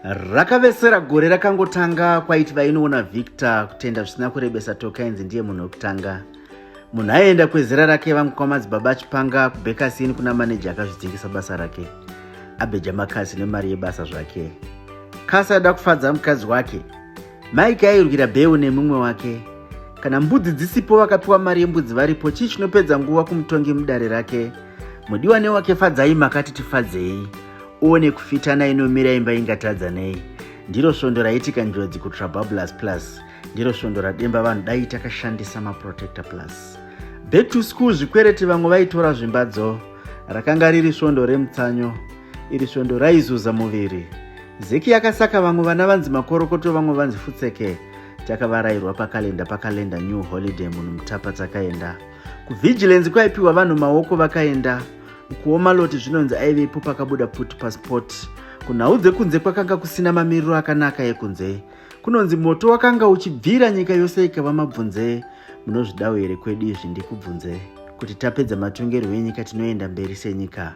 rakavesera gore rakangotanga kwaiti vainoona victor kutenda zvisina kurebesa tokainzi ndiye munhu wekutanga munhu aienda kwezera rake vangu kwamadzibaba achipanga kubhekasini kuna maneja akazvidzingisa basa rake abeja makasi nemari yebasa zvake kasi aida kufadza mukadzi wake Mike airwira Beu nemumwe wake. Kana mbudzi dzisipo vakapiwa mari yembudzi varipo chii chinopedza nguva kumutongi mudare rake. Mudiwa newake fadzai makati tifadzei. Uone kufitana inomira imba ingatadza nei. Ndiro svondo raitika njodzi kuTrababulous Plus. Ndiro svondo rademba vanhu dai takashandisa maProtector Plus. Back to school zvikwereti vamwe vaitora zvimbadzo. Rakanga riri svondo remutsanyo. Iri svondo raizuza muviri. Zeki yakasaka vamwe vana vanzi makorokoto vamwe vanzi futseke takavarairwa pakalenda pakalenda new holiday munhu mutapa takaenda kuvigilance kwaipiwa vanhu maoko vakaenda kuoma loti zvinonzi aivepo pakabuda put passport kunhau dzekunze kwakanga kusina mamiriro akanaka ekunze kunonzi moto wakanga uchibvira nyika yose ikava mabvunze munozvidawo here kwedu izvi ndikubvunze kuti tapedza matongerwo enyika tinoenda mberi senyika